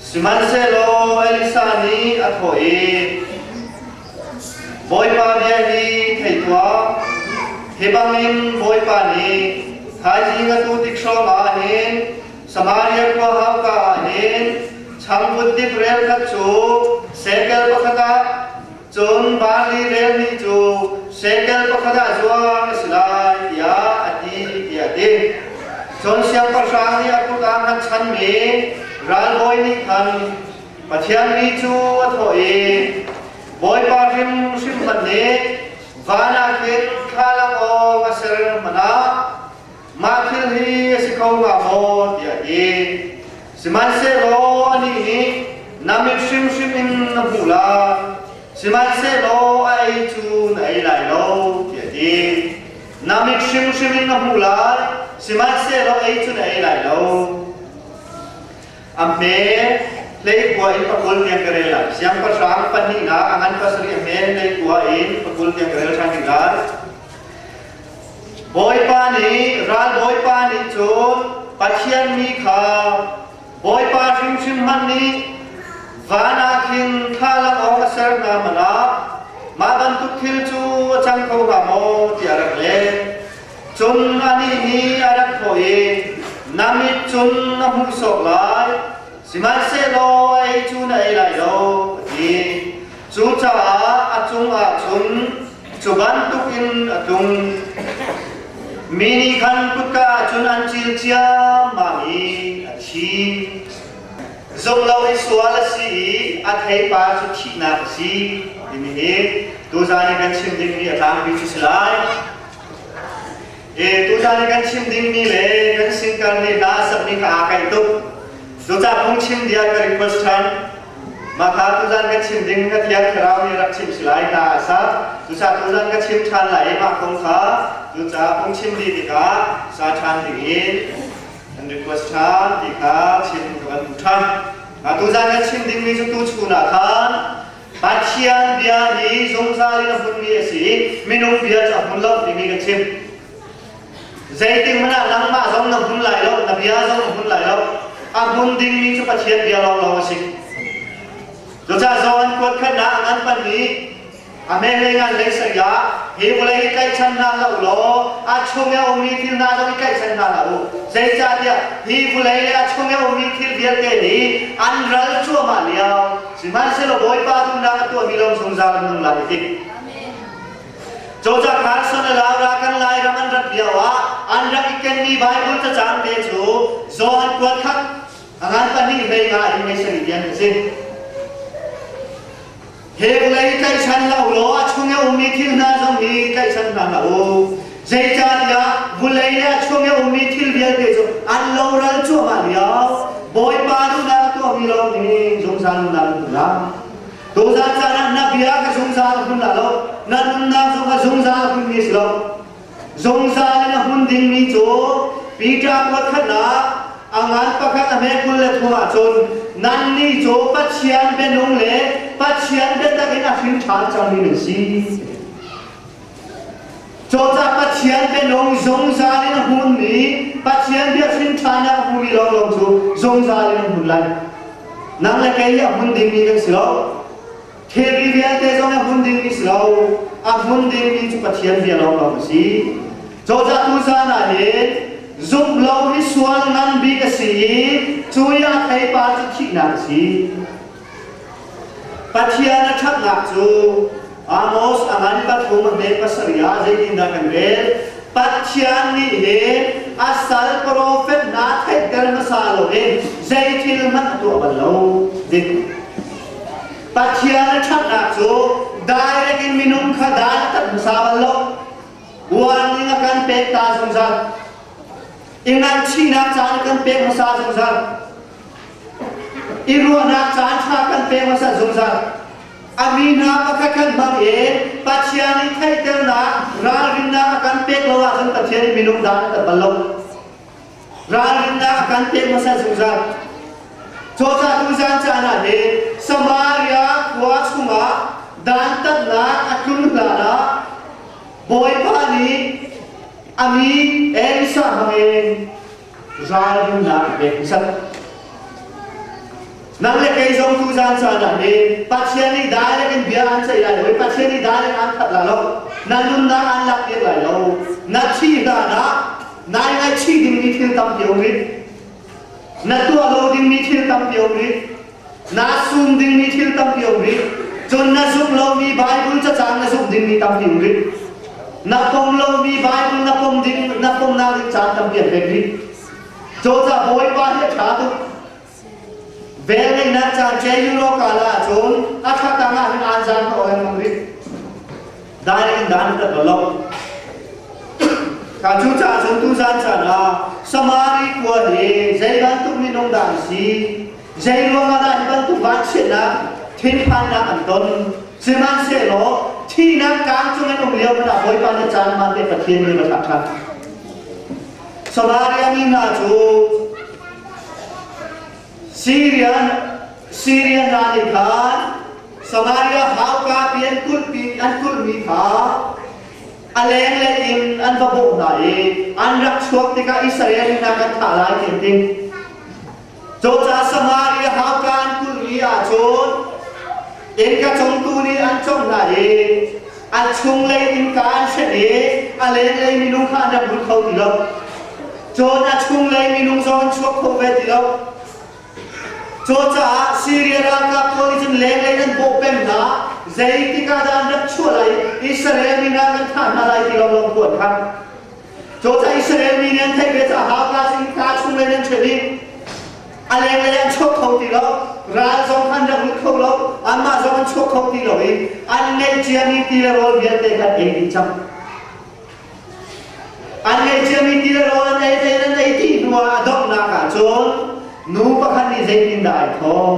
Sihmanhsehlaw Elisa nih a thawh i, Bawipa bia hi thei tuah, hi bangin Bawipa nih thaizing a tuutik hrawngah hin Samaria khua hauka ah hin changvut dip rel khat cu sekel pakhat ah Cun Barnabas nih cu shekel pakhat ah zuang a si lai tiah a ti tiah a ti. Cun siangpahrang nih a kut ah hman chanmi ralbawi nih khan Pathian mi cu a thawh i, Bawipa hrimhrim hmanh nih vanah khin thla lak awng a ser hmanh ah Mah thil hi a si kho hnga maw tiah ti. Sihmanhsehlaw anih nih na mit hrimhrim in na hmuh la, sihmanhsehlaw a ei cu na ei lai lo, tiah ti. Na mit hrimhrim in na hmuh lai, sihmanhsehlaw ei cu na ei lai lo. A hme leikua in pakul tiang ka rel lai. Siangpahrang pahnihnak a ngan pasarih a hme leikua in pakul tiang ka rel ṭhan ding lai. Bawipa nih ralbawipa nih cun Pathian mi kha Bawipa hrimhrim hmanh nih van ah khin thlalang awk a ser hna manah mah bantuk thil cu a cang kho hnga maw tiah a rak leh. Cun anih nih a rak thawh i, Na mit cun na hmuh sawk lai, sihmanhsehlaw ei cu na ei lai lo, a ti. Cucaah a cungah cun Cu bantukin a tlung. Mi nih khan kutka cun an cil ciammam i a thi. Zumh lo i sual a si i a theipa cu thihnak a si timi hi tuzan i kan chim ding hi a tlangpi cu si lai. Tuchan i kan chim dingmi le kan sin karni hna sakmi kha aa kaih tuk. Cucah phungchim bia ka request ṭhan. Mahka tuzan kan chim ding na Thiang Thlarau nih rak chimh si lai ta a sa. Cucah tuzan ka chim ṭhan lai i mah kong kha cucah phungchim dih tikah sa ṭhan dingin kan request ṭhan ti kha chim ka van hmuh ṭhan. Mah tuzan kan chim dingmi cu tu chun ah khan Pathian bia hi zungzal in a hunmi a si i minung bia cu a hun lo timi ka chim. Zeitik hmanh ah nangmah zong na hun lai lo, na bia zong na hun lai lo. A hun dingmi cu Pathian bia lawnglawng a si. Cucaah John kuat khatnak an pahnih a mehlei ngan lei saya hi vawlei i tlaihchan hna hlah u law a chung i a ummi thil hna zong i tlaihchan hna hlah u. Zeicahtiah hi vawlei a chung i a ummi thil vialte hi an ral cuahmah lio Sihmanhsehlaw Bawipa duhnak a tuahmi lam zungzal an nung lai i dik. Cawzah Carson a lau ra kan Lairam an rat lio ah an rak i kenmi Baibal cacang te cu zaw an kuat khat ran pahnih hlei nga in mei sarih tiang a si. Heng lei tlaihchan lo law a chung i ummi thil hna zong hi tlaihchan hna hlah u. Zeicahtiah vulei le a chung i a ummi thil vialte cu an loral cuahmah lio Bawipa nunah a tuahmi lawng hi zungzal nunah na hmun lai. Tuzan caan ah na bia ka zungzal a hmun la lo, na nunnak zong ka zungzal a hmunmi si lo. Zungzal in a hmun dingmi cu Peter kuat khatnak a ngan pakhat a hmekul le thum ah cun nannih cu Pathian bianung le Pathian biatak in a hrin ṭhan cangmi nan si. Cawcah Pathian bianung zungzal in a hunmi Pathian bia hrinṭhan ah a hmumi lawnglawng cu zungzal in an hun lai. Nang le kei a hun dingmi kan si lo. Thilri vialte zong a hun dingmi si lo. A hun dingmi cu Pathian bia lawnglawng a si. Cawcah tu zan ah hin zumh lo hi sual ngan bik a si i cu i a theipar cu thihnak a si. Pathian a ṭhatnak cu Amos a ngan pathum a hme pasarih ah zeitindah kan rel? Pathian nih hin a sal profet hna theihter hmasa loin zei thil hmanh a tuah bal lo. Dik. Pathian a ṭhatnak cu direct in minung kha dantat hmasa bal lo. Warning a kan pek ta zungzal. I ngaihchihnak caan kan pek hmasa zungzal. I ruahnak caan ṭha kan pek hmasat zungzal. A mi hna pakhat kan hmang i Pathian i theihternak ralrinnak a kan pek lo ahcun Pathian i minung da na tat bal lo. Ralrinnak a kan pek hmasat zungzal. Cawcatu zan caan ah hi Samaria khua chungah dantatnak a tlun hlan ah Bawipa nih a mi Elisa hmangin Zaanrumnak a peksak. Nang le kei zong tu zaan caan ah hin Pathian nih direct in bia aan ceih lai lo i Pathian nih direct aan khat lai lo. Na nunnak aan lak piak lai lo. Na thih hlan ah nai ngaihchih dingmi thil tampi a um rih. Na tuah lo dingmi thil tampi a um rih. Naa sum dingmi thil tampi a um rih. Cun na zumh lomi Baibal cacang na zumh dingmi tampi um rih. Na pom lomi Baibal na pom ding na pomnak ding caan tampi an pek rih. Cozah Bawipa hi a ṭha tuk. Velngeihnak caan cheu law kala ahcun a thla tang ah hin aan zan ka oil ngam rih. daing dan ka to lo ka cu ca chun tu zan chan ah samari khua he zei bantuk minung dan si zei ruangah dah hi bantuk vansiannak thinphannak an ton sihmanhsehlaw thihnak kang chungin um lio mana bawipa na caan ma te pathian ni ma thak khat samaria mi hna cu Siria hna nih khan Samaria hauka pi an kulhmi an kulhmi kha a lenglei in an va bawh hna i an rak chuak tikah Israel hna kan thah lai ti an ti. Cucaah Samaria hauka an kulhmi ahcun innka cung tu nih an cawng hna i A chungle innka an hrenh i a lenglei minung kha an rak lut kho ti lo. Cun a chunglei minung zong an chuak kho ve ti lo. Cucaah Siria ralkap pawl nih cun lenglei an bawh peng hna. Zeitik ah dah an rak chuah lai i Israel mi hna an thah hna lai ti lawng lawng ku an khan. Cawcah Israel mi nih an theih ve caah Gaza in ka chung le nan ṭhen i a leng le an chuak kho ti lo ral zong an rak lut kho lo anmah zong an chuak kho ti lo i an ngeihcia mi ti le rawl vialte kan ei dih cang an ngeihcia mi ti le rawl an ei te an ei dih hnuah a donghnak ah cun nu pakhat nih zeitindah ai thawh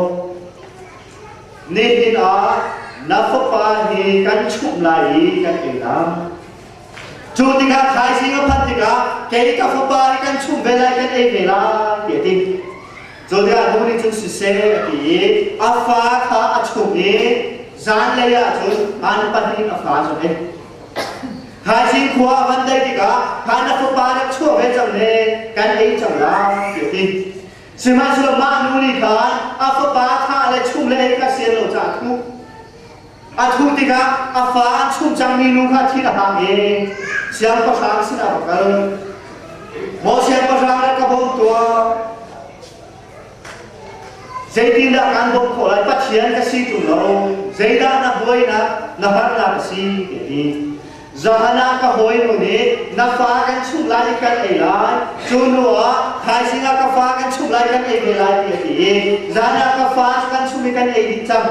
nihin ah na fapa hi kan chumh lai i kan ei lai Cu tikah thaising a phanh tikah kei ka fapa nih kan chum ve lai kan ei ve lai ti a ti. Cu tikah nu nih cun siseh a ti i a fa kha a chum i zanlei ahcun man pahnih a fa cu ei. Thaising khua a van daih tikah khan na fapa nih chuah ve cang he kan ei cang lai ti a ti. Sihmanhsehlaw mah nu nih khan a fapa thah le chum le ei kha sian lo caah thuh A thuh tikah a fa a chuh cangmi nu kha thil a hang i siangpahrang sinah va kal. Maw siangpahrang le ka bawm tuah. Zeitindah kan bawm khawh lai Pathian ka si ṭung lo. Zeidah na buainak na harnak a si ti ti. Zahan ah ka hawi nu nih na fa kan chuh lai i kan ei lai. Cu hnu ah thaizing ah ka fa kan chuh lai kan ei ve lai ti a ti i zan ah ka fa kan chuh i kan ei dih cang.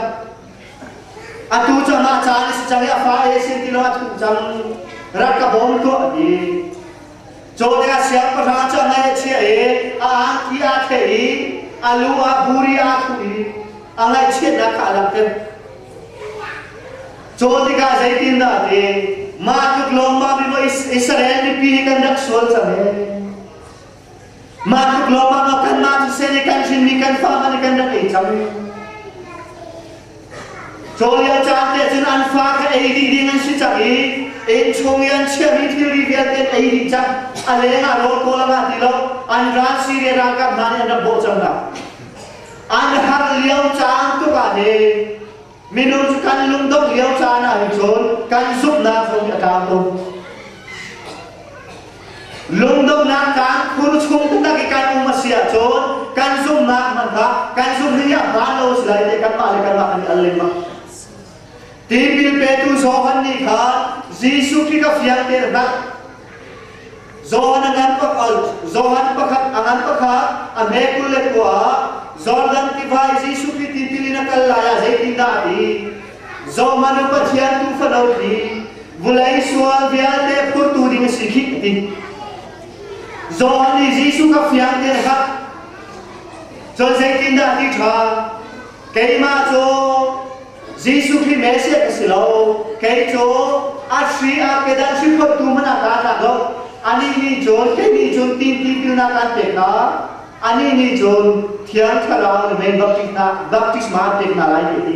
Atu cang ah caan a si cang i a fa e sin tilo a thuh cang rak ka bawm tuah ni cawle a siang pahra cu a ngaih a chia i a angki aa the i a lu ah buri aa thuh i a ngaihchiatnak ka a langter cawl tikah zeitin dah ti mah tluk lawngmang rimaw Israel mipi hi kan rak sual cang ee Mah tluk lawngah lo kanmah cu sen i kan hrinmi kan fangah kan rak ei cang i Cawlio caan te cun an fa kha ei dih ding an si cang i inn chung i an chiahmi thilri vialte an ei dih cang a leng ah rawl kawl a ti lo an ral Syria ralkap hna nih an rak bawh cang hna an har lio caan tuk ah le Minung cu kan lungdongh lio caan ah hin cun kan zumhnak zong hi a tlau tuk. Lungdonghnak kan phun chung taktak i kan um a si ahcun kan zumhnak hmanhah kan zumhri ah hma lo si lai te kanmah le kanmah kan i al lengmang. Tipil petu Johan nih khan Jesuh Khrih kha fiang tein a hngalh. John a ngan pakhat Johan pakhat a ngan pakhat a hme kul le kua ah Jordan tiva i Jesuh Khrih tipil in a kal lai ah zeitindah a ti? Zohman u Pathian tufa no khi vulei sual vialte phurtu ding a si khi a ti. John nih Jesuh kha fiang te a khat. Cun zeitindah a ti ṭha? keimah cu Jesuh Khrih Messiah ka si lo kei cu Ashri ah kedah hrim khotu man a ka tlak lo ani nih cun kei nih cun tin tipilnak an pek hna ani nih cun thiang thlarau na men baptisma baptisma an pek hna lai ti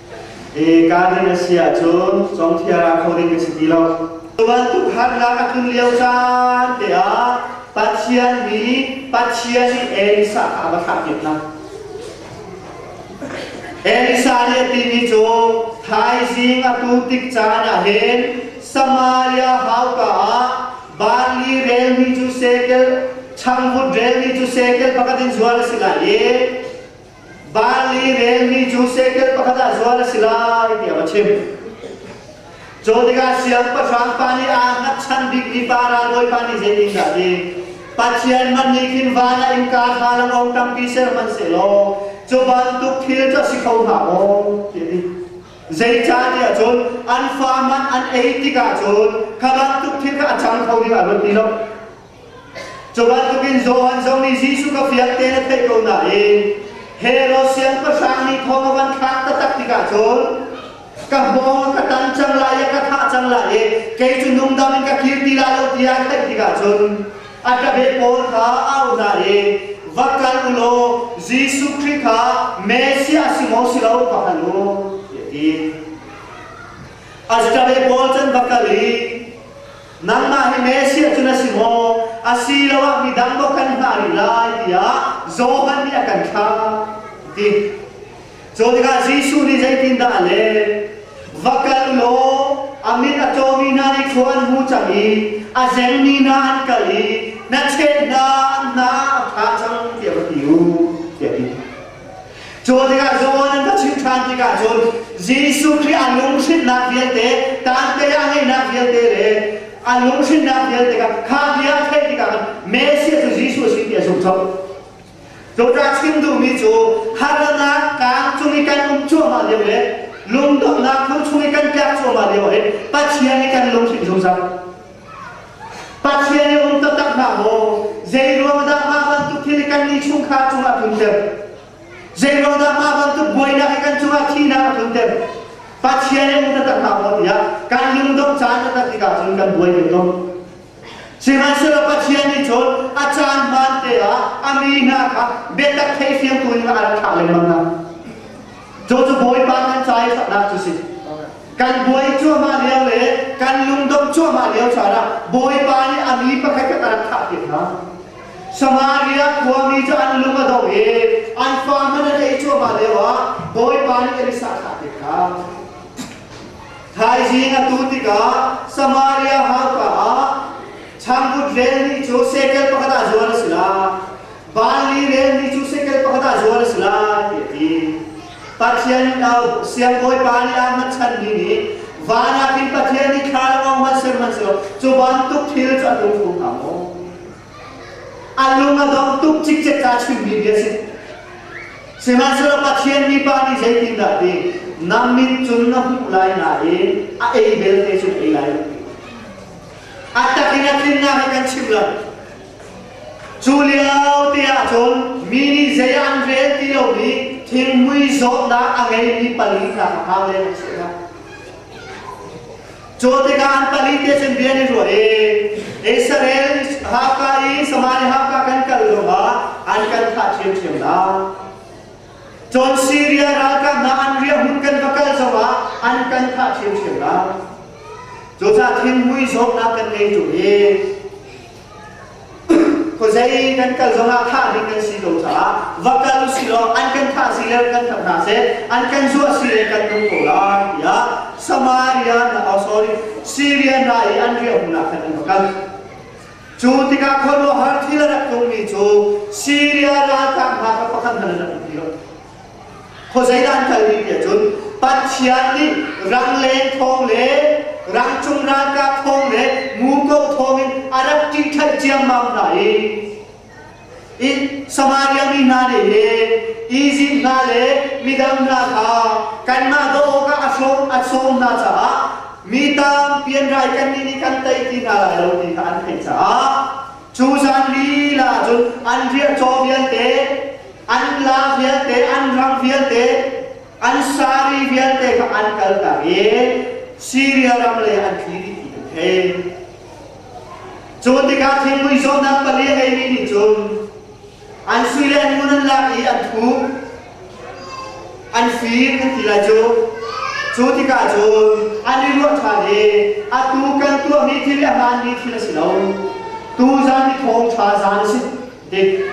E ka ding a si ahcun congthia ra kho ding a si ti lo. Bantuk harnak a tlun lio caan te ah Pathian hi Pathian nih Elisa a va thlah hna. Elisa nih a timi cu thaizing a tu tik caan ah hin Samaria hauka ah barli relmi cu sekel, changvut relmi cu sekel pakhat in zual a si lai i Vali relmi cu sekel pakhat ah zual a si lai tiah a chim. Cu tikah siangpahrang pa nih aa hngatchan bikmi pa ralbawi pa nih zeitin dah ti Pathian hmanh nih khin van ah innka hna lo o ṭangki ser hmanh seh law cu bantuk thil cu a si kho hnga maw ti a ti. Zeicahtiah cun an fa man an ei tikah cun kha bantuk thil kha a cang kho ding a ruat ti lo. Cubantukin Johan zong nih Jesuh kha fiang tein a theih ko nain Herod siangpahrang nih thong a van thlak taktak tikah cun ka hmawng ka tan cang lai i ka thah cang lai i kei cu nungdam in ka kir ti lai lo tiah a theih tikah cun a tabeh pawl kha au hna i va kal u law Jesuh Khrih kha Messiah a si maw si lo va hngal u tiah a ti. A tabeh pawl cun va kal i nangmah hi Messiah cu na si maw asiloah midang maw kan hngah rih lai tiah Johan nih a kan thlah ti cu tikah Jesuh nih zeitindah a leh va kal law a mit a cawmi hna nih khua an hu cang i a zengmi hna an kal i na cheh hna na a ṭha cang tiah va ti u tiah a ti Cu tikah Johan an va chim ṭhan tikah cun Jesuh Khrih a lunghrinhnak vialte, tante ah heinak vialte le a lunghrinhnak vialte kha kha bia theih tikah Messiah cu Jesuh a si ti a zumhlo. Cucah chim duhmi cu harnak kaang cung i kan um cuahmah lio le lungdonghnak thu chung i kan tlak cuahmah lio hin Pathian i kan lunghrinh zungzal. Pathian i um taktak hna maw, zeiruang dah mah bantuk thil kan nih chungkhar cungah tlunter, zeiruang dah mah bantuk buainak hi kan cungah thihnak a tlunter, Pathian i um taktak hna maw tiah kan lungdongh caan taktak tikah cun kan buai ve ko. Sihmanhsehlaw Pathian nih cun a caan hmaan te ah a mi hna kha biatak theifiang tu in a rak thlah lengmang hna. Cu cu Bawipa kan ca i saknak cu si. Kan buai cuahmah lio le kan lungdong cuahmah lio caan ah Bawipa nih a mi pakhat kha kan thah piak hna. Samaria khuami cu an lung a dong i an fa hmanh an ei cuahmah lio ah Bawipa nih an i sahthah piak hna. Thaizing a tu tikah Samaria hauka ah changvut rel ni cu sekel pakhat ah zual a si lai. Vanli relmi cu sekel pakhat ah zual a si lai ti a ti. Pathian in au, siangbawipa nih Ahmad chanmi nih vanah hin Pathian nih thla lo a hman sihmanhsehlaw cu bantuk thil cu a tlung kho hnga maw? A lung a dong tuk cikcek kaa chimmi bia si. Sihmanhsehlaw Pathian mipa nih zeitindah a ti? Na mit cun na hmuh lai nain a ei belte cun ei lai. A takin a tlinnak hi kan chim lo. Cu lio te ahcun mi nih zei an rel ti lo i thilmui zawtnak a ngeimi pali hna kha hau deng an si Cu tikah an pali te cun bia an i ruah i Israel Haka i Samaria Haka kan kal zongah an kan thah ṭhiamṭhiam lai. Cun Syria ralkap hna an riahhmun kan va kal zongah an kan thah ṭhiamṭhiam lai. Cucaah thinhmui zawtnak kan ngei ṭung i Khuazei kan kal zongah thah ding kan si ko caah va kal u sih law an kan thah si le kan tap hna seh an kan zuah si le kan nung ko lai tiah Samaria oh sorry Syria hna i an riahhunnak khan an va kal cu tikah khuaruahhar thil a rak tuhmi cu Syria ralkap hna kha pakhat hmanh an rak um ti lo Khuazeidan kal ni nih cun Pathian nih rangleng thawng le rangcung ralkap thawng le muko thawng in a rak ṭihṭhaih ciammam hna i Samaria mi hna nih hi Izipt hna le midang hna kha kanmah doh awkah a sawm a sawm hna caah mi tampi an rai kannih nih kan tei ti hna lai lo ti kha an theih caah cu zan lila cun an riah caw vialte an la vialte, an rang vialte, an sari vialte kha an kaltak i Syria ram le an thli dih ti an thei. Cu tikah thingpui zawtnak pali a ngeimi nih cun an sui le an ngun an lak i an thu, an fir an ti lai cu. Cu tikah cun an i ruah ṭhan i a tu kan tuahmi thil i a hmaanmi thil a si lo. Tu zan i thawng ṭha zan a si. Dik.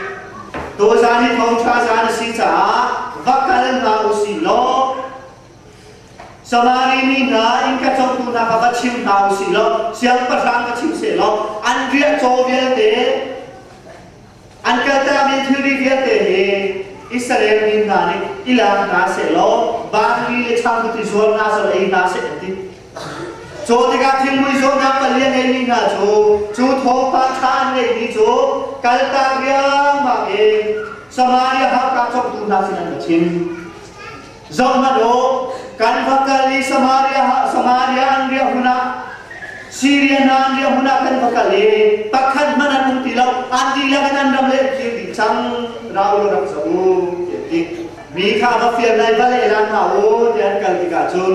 Tuzan i thawngṭha zan a si caah va kal hna u si law Samari mi hna innka congtu hna kha va chim hna u si law siangpahrang ka chim seh law an riah caw vialte an kaltak in thilri vialte hi Israel mi hna nih i lak hna seh law vanli le changbuti zuar hna sal ei hna seh an ti. Cu tikah thingmui zawtnak palian ngeimi hna cu cu thawngpang ṭha an ngeihmi cu kaltak riangmang in Samaria hakka congtu hna sinah ka chim. Zoh hmanh u, kan va kal i Samaria, Samaria an riah hun ah Syria hna an riah hun ah kan va kal i pakhat hmanh an um ti lo, an dihlak in an ram le kir dih cang, rau lo rak zoh u, tiah a ti. Mi kha va fial lai va lehlam hna u, tiah an kal tikah cun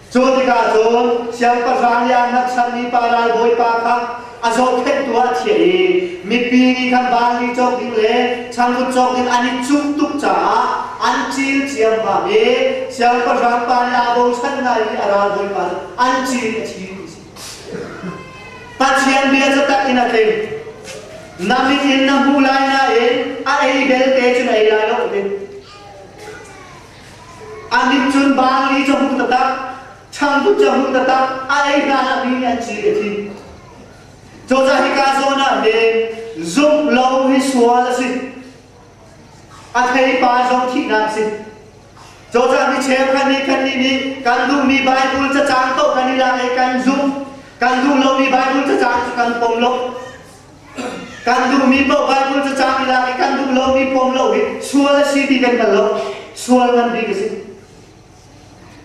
Cu tikah cun siangpahrang Liannat sermi pa ralbawipa kha a zohkhenhtu ah chiah i mipi nih khan vanli cawk ding le changvut cawk ding an i cuh tuk caah an cil ciammam i siangpahrang pa nih aa bochan hna i a ralbawipa an cil a thi ti si. Pathian bia cu tak in a tling. Na mit in na hmuh lai nain a ei belte cun ei lai lo a ti. An nih cun baali cu hmuh taktak, changduk cu hmuh taktak, a ei hna lami an ci a thi. Cozah hika zawn ah hin zumh lo hi sual a si. A theipa zong thihnak a si. Cozah mi cheukhat nih kannih nih kan duhmi Baibal cacang paoh kan i lak i kan zumh. Kan duh lomi Baibal cacang cu kan pom lo. Kan duhmi paoh Baibal cacang i lak i kan duh lomi pom lo hi sual a si ti kan hngal lo. Sual ngan bik a si.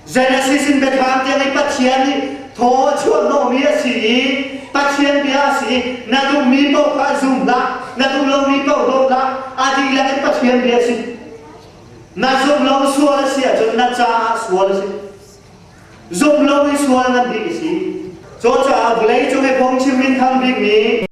Genesis in Bethlehem tiang i Pathian nih thaw a chuahhnawhmi a si i Pathian bia a si i na duhmi paoh kha zum hlah, na duh lomi paoh doh hlah, a dihlak in Pathian bia a si. Na zumh lo sual a si ahcun na caah sual a si. Zumh lo i sual ngan bik a si. Cucaah vawlei cung i phung chim in thang bikmi